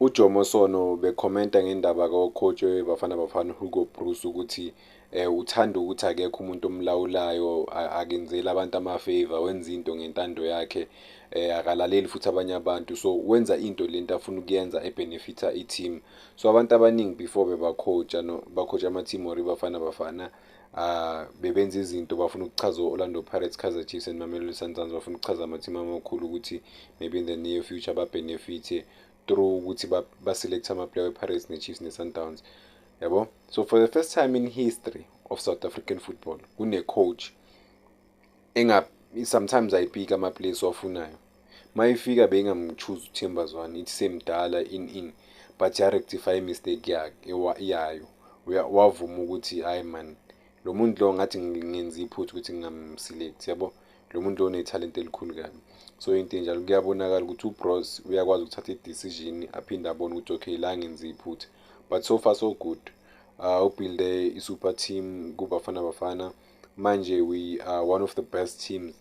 UJomo Sono bekhomenta ngendaba kocoach weBafana Bafana uHugo Broos ukuthi eh uthanda ukuthi akekho umuntu omlawulayo akenzeli abantu amafavor wenza into ngentando yakhe eh akalaleli futhi abanye abantu so wenza into lento afuna ukuyenza ebenefita i-team so abantu abaningi before bebacoacha no bacoacha ama-team or iBafana Bafana uh, bebenza izinto bafuna ukuchaza o-orlando pirates kaizer chiefs and mamelodi sundowns bafuna ukuchaza amathimu amakhulu ukuthi maybe in the near future babhenefithe through ukuthi baselekte amaplayer we-pirates ne-chiefs ne-sundowns yabo so for the first time in history of south african football kune-coach enga sometimes ayipika ama place wafunayo mayifika beyingamchoose uThemba Zwane ithi semdala in in but ya rectify mistake yakhe yayo wavuma ukuthi hayi man lo muntu lo ngathi ngenza iphutha ukuthi ngingamselect yabo lo muntu lo unethalente elikhulu kabi so into enjalo kuyabonakala ukuthi ubros uyakwazi ukuthatha i-decision aphinde abone ukuthi okay la ngenza iphutha but so far so good uh, ubuilde i-super team kubafana bafana, bafana manje we are one of the best teams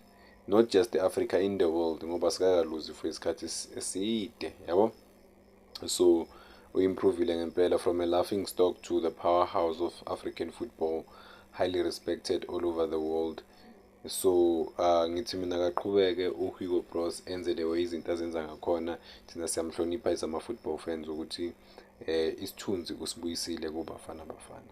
not just africa in the world ngoba sikakaluzi for isikhathi eside yabo so uyimprovile ngempela from a laughing stock to the powerhouse of african football highly respected all over the world so uh, ngithi mina kaqhubeke uhugo bros enze the way izinto azenza ngakhona thina siyamhlonipha izama-football fans ukuthi um eh, isithunzi usibuyisile kubafana bafana